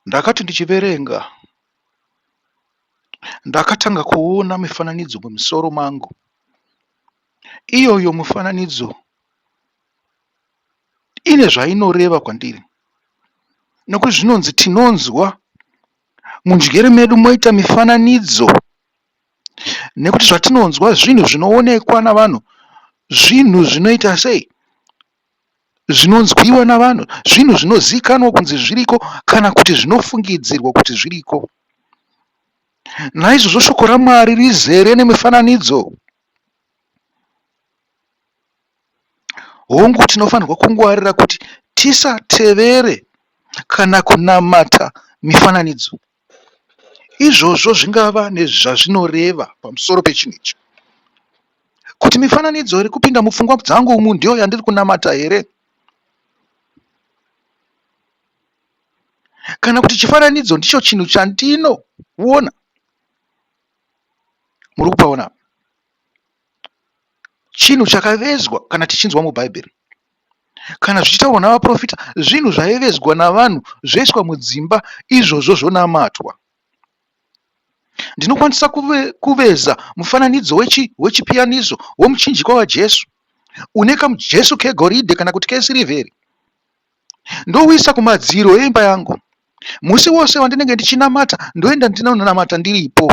Ndakati ndichiverenga ndakatanga kuona mifananidzo mumusoro mangu. Iyoyo mifananidzo ine zvainoreva kwandiri nekuti zvinonzi tinonzwa munjere medu moita mifananidzo nekuti zvatinonzwa zvinhu zvinoonekwa navanhu zvinhu zvinoita sei zvinonzwiwa navanhu, zvinhu zvinozivikanwa kunzi zviriko kana kuti zvinofungidzirwa kuti zviriko. Naizvozvo shoko raMwari rizere nemifananidzo. Hongu, tinofanirwa kungwarira kuti tisatevere kana kunamata mifananidzo. Izvozvo zvingava nezvazvinoreva pamusoro pechinhu ichi, kuti, Mifananidzo iri kupinda mupfungwa dzangu umu ndiyo yandiri kunamata here? Kana kuti, Chifananidzo ndicho chinhu chandinoona. Muri kupaona apa? Chinhu chakavezwa kana tichinzwa muBhaibheri. Kana zvichitaurwa navaprofita, zvinhu zvaivezwa navanhu zvoiswa mudzimba izvozvo zvonamatwa. Ndinokwanisa kuve, kuveza mufananidzo wechi, wechipiyaniso womuchinjikwa waJesu une kamujesu kegoridhe kana kuti kesirivheri ndouisa kumadziro eimba yangu musi wose wandinenge ndichinamata ndoenda ndinonamata ndiripo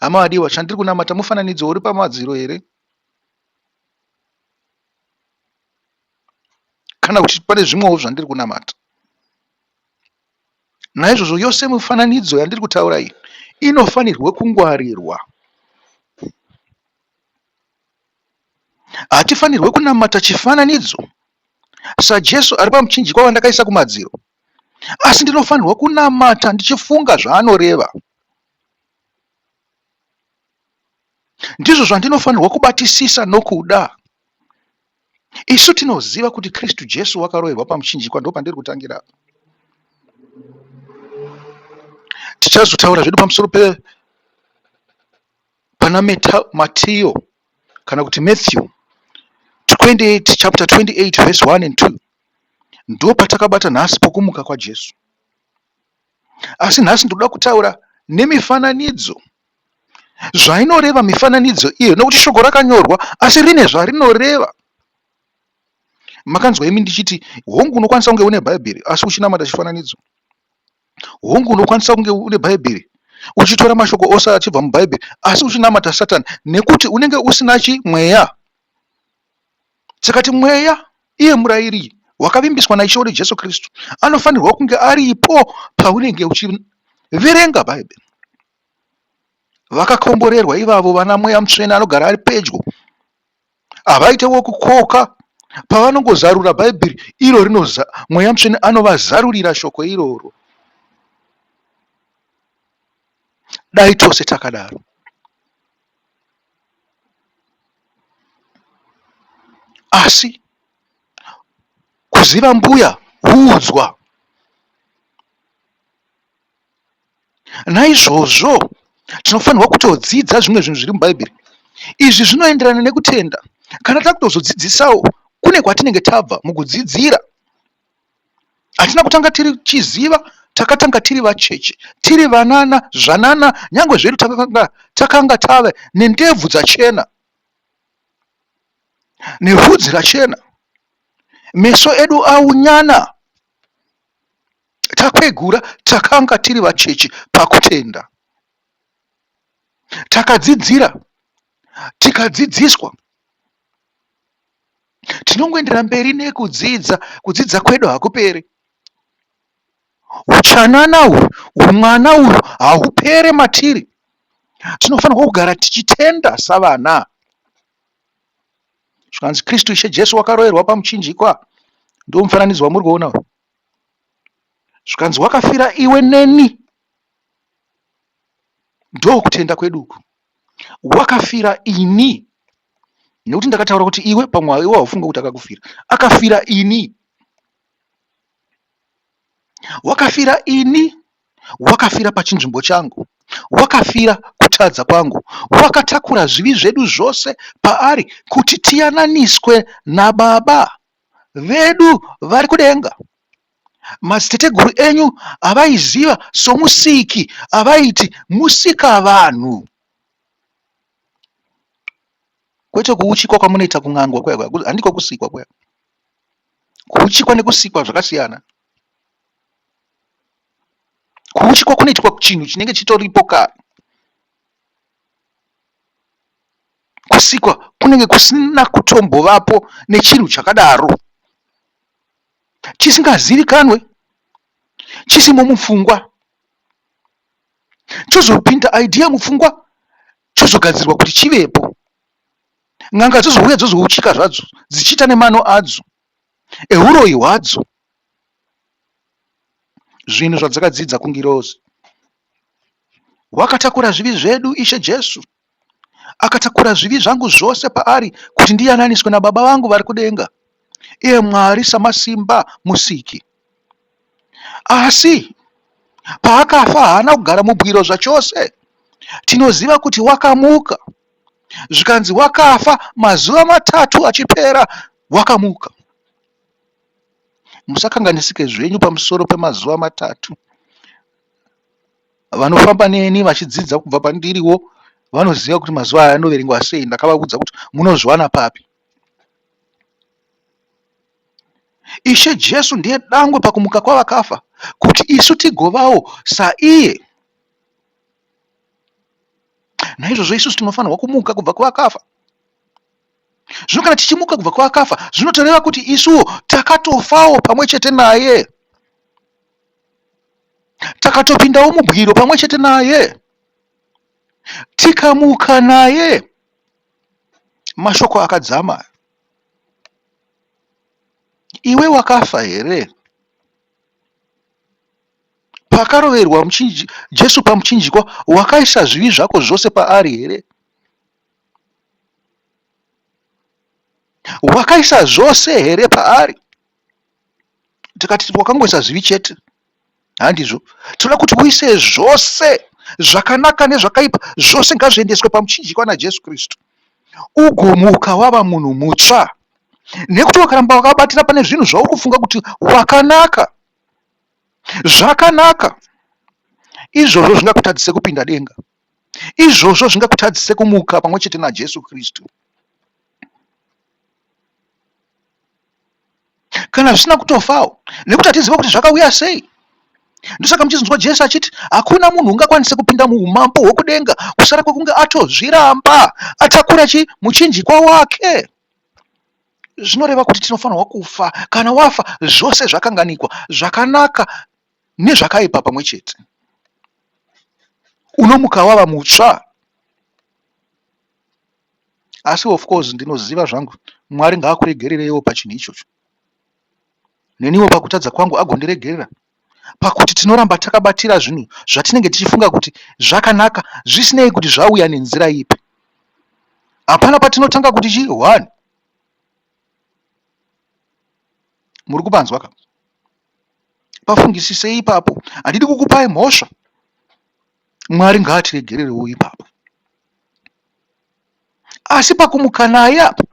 hama adiwa chandiri kunamata mufananidzo uri pamadziro here kana kuti pane zvimwewo zvandiri kunamata naizvozvo yose mifananidzo yandiri kutaura iyi inofanirwe kungwarirwa hatifanirwe kunamata chifananidzo sajesu ari pamuchinjikwa wandakaisa kumadziro asi ndinofanirwa kunamata ndichifunga zvaanoreva ndizvo zvandinofanirwa kubatisisa nokuda. Isu tinoziva kuti Kristu Jesu wakaroverwa pamuchinjikwa, ndo pandiri kutangira apa. Tichazotaura zvedu pamusoro pe pana Matiyo kana kuti Matthew 28 chapter 28 verse 1 and 2 ndo patakabata nhasi pokumuka kwaJesu. Asi nhasi ndinoda kutaura nemifananidzo, zvainoreva mifananidzo iyo, nokuti shoko rakanyorwa asi rine zvarinoreva. Makanzwa imi ndichiti, hongu unokwanisa kunge une Bhaibheri asi uchinamata chifananidzo. Hongu unokwanisa kunge une Bhaibheri uchitora mashoko ose achibva muBhaibheri asi uchinamata Satani nekuti unenge usina chimweya. Tikati Mweya, iye murayiri wakavimbiswa naIshe wedu Jesu Kristu, anofanirwa kunge aripo paunenge uchiverenga Bhaibheri. Vakakomborerwa ivavo vana Mweya Mutsvene anogara ari pedyo. Havaite wokukoka pavanongozarura Bhaibheri iro rinoza, Mweya Mutsvene anovazarurira shoko iroro. Dai tose takadaro. Asi kuziva mbuya huudzwa. Naizvozvo tinofanirwa kutodzidza zvimwe zvinhu zviri muBhaibheri. Izvi zvinoenderana nekutenda. Kana takutozodzidzisawo kune kwatinenge tabva mukudzidzira hatina kutanga tiri chiziva takatanga tiri vacheche tiri vanana zvanana nyange zvedu takanga takanga tave nendebvu dzachena nevhudzi rachena meso edu aunyana takwegura takanga tiri vacheche pakutenda takadzidzira tikadzidziswa Tinongoendera mberi nekudzidza, kudzidza kwedu hakuperi. Huchanana uhwu, humwana uhwu hahupere matiri. Tinofanirwa kugara tichitenda savana. Zvikanzi Kristu Ishe Jesu wakaroerwa pamuchinjikwa, ndiwo mufananidzo wamuri kuona uyu. Zvikanzi wakafira iwe neni, ndokutenda kwedu uku. Wakafira ini nekuti ndakataura kuti iwe pamwe iwe haufunge kuti akakufira. Akafira ini. Wakafira ini. Wakafira pachinzvimbo changu. Wakafira kutadza kwangu. Wakatakura zvivi zvedu zvose paari kuti tiyananiswe nababa vedu vari kudenga. madziteteguru enyu avaiziva soMusiki avaiti Musikavanhu. Kwete kuuchikwa kwamunoita kun'angwa kuya kuya, handiko kusikwa kuya. Kuuchikwa nekusikwa zvakasiyana. Kuuchikwa kunoitwa chinhu chinenge chitoripo kare. Kusikwa kunenge kusina kutombovapo nechinhu chakadaro. chisingazivikanwe chisimo mupfungwa chozopinda idea mupfungwa chozogadzirwa kuti chivepo n'anga dzozouya dzozouchika zvadzo dzichiita nemano adzo euroyi hwadzo zvinhu zvadzakadzidza kungirozi wakatakura zvivi zvedu ishe jesu Akatakura zvivi zvangu zvose paari kuti ndiyananiswe naBaba vangu vari kudenga, iye Mwari Samasimba Musiki. Asi paakafa haana kugara mubwiro zvachose. Tinoziva kuti wakamuka, zvikanzi wakafa mazuva matatu achipera wakamuka. Musakanganisike zvenyu pamusoro pemazuva matatu. vanofamba neni vachidzidza kubva pandiriwo vanoziva kuti mazuva aya anoverengwa sei ndakavaudza kuti munozviwana papi ishe jesu ndiye dangwe pakumuka kwavakafa kuti isu tigovawo saiye naizvozvo isusu tinofanirwa kumuka kubva kwavakafa zvino kana tichimuka kubva kwavakafa zvinotoreva kuti isuwo takatofawo pamwe chete naye takatopindawo mubwiro pamwe chete naye tikamuka naye mashoko akadzama iwe wakafa here pakaroverwa jesu pamuchinjikwa wakaisa zvivi zvako zvose paari here wakaisa zvose here paari tikati wakangoisa zvivi chete handizvo tinoda kuti uise zvose zvakanaka nezvakaipa zvose ngazviendeswe pamuchinjikwa najesu kristu ugomuka wava munhu mutsva nekuti wakaramba wakabatira pane zvinhu zvauri kufunga kuti wakanaka zvakanaka izvozvo zvingakutadzise kupinda denga izvozvo zvingakutadzise kumuka pamwe chete najesu kristu kana zvisina kutofawo nekuti hatiziva kuti zvakauya sei ndosaka muchinzwa jesu achiti hakuna munhu ungakwanise kupinda muumambo hwekudenga kusara kwekunge atozviramba atakura chi muchinjikwa wake zvinoreva kuti tinofanirwa kufa kana wafa zvose zvakanganikwa zvakanaka nezvakaipa pamwe chete unomuka wava mutsva asi of course ndinoziva zvangu mwari ngaakuregerereiwo pachinhu ichocho neniwo pakutadza kwangu agondiregerera pakuti tinoramba takabatira zvinhu zvatinenge tichifunga kuti zvakanaka zvisinei kuti zvauya nenzira ipi hapana patinotanga kuti chii one muri kupanzwa ka pafungisisei ipapo handidi kukupai mhosva mwari ngaatiregererewo ipapo Asi pakumuka naye apa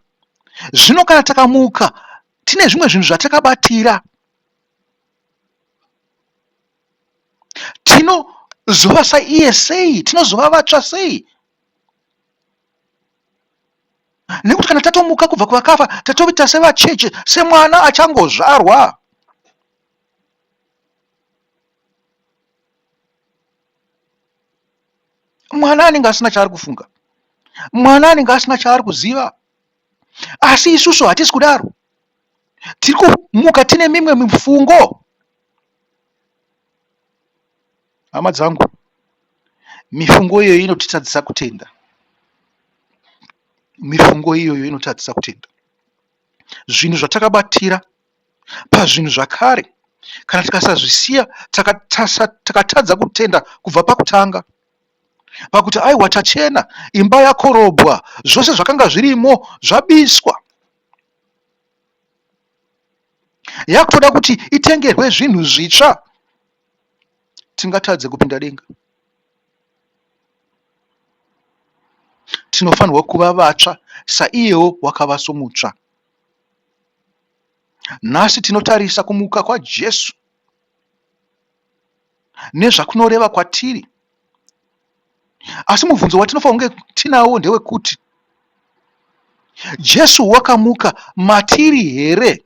zvino kana takamuka tine zvimwe zvinhu zvatakabatira tinozova saiye sei tinozova vatsva sei nekuti kana tatomuka kubva kuvakafa tatoita sevacheche semwana achangozvarwa mwana anenge asina chaari kufunga mwana anenge asina chaari kuziva asi isusu hatisi kudaro tiri kumuka tine mimwe mifungo hama dzangu mifungo iyoyo inotitadzisa kutenda mifungo iyoyo inotadzisa kutenda zvinhu zvatakabatira pazvinhu zvakare kana tikasazvisiya takatadza kutenda kubva pakutanga pakuti aiwa tachena imba yakorobwa zvose zvakanga zvirimo zvabiswa yakutoda kuti itengerwe zvinhu zvitsva tingatadze kupinda denga tinofanirwa kuva vatsva saiyewo wakava somutsva Nhasi tinotarisa kumuka kwaJesu nezvakunoreva kwatiri. Asi mubvunzo watinofanira kunge tinawo ndewekuti Jesu wakamuka matiri here?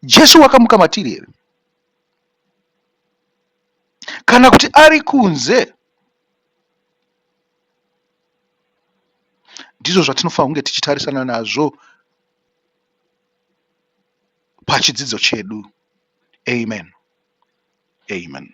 Jesu wakamuka matiri here? Kana kuti ari kunze Ndizvo zvatinofanira kunge tichitarisana nazvo pachidzidzo chedu. Amen. Amen.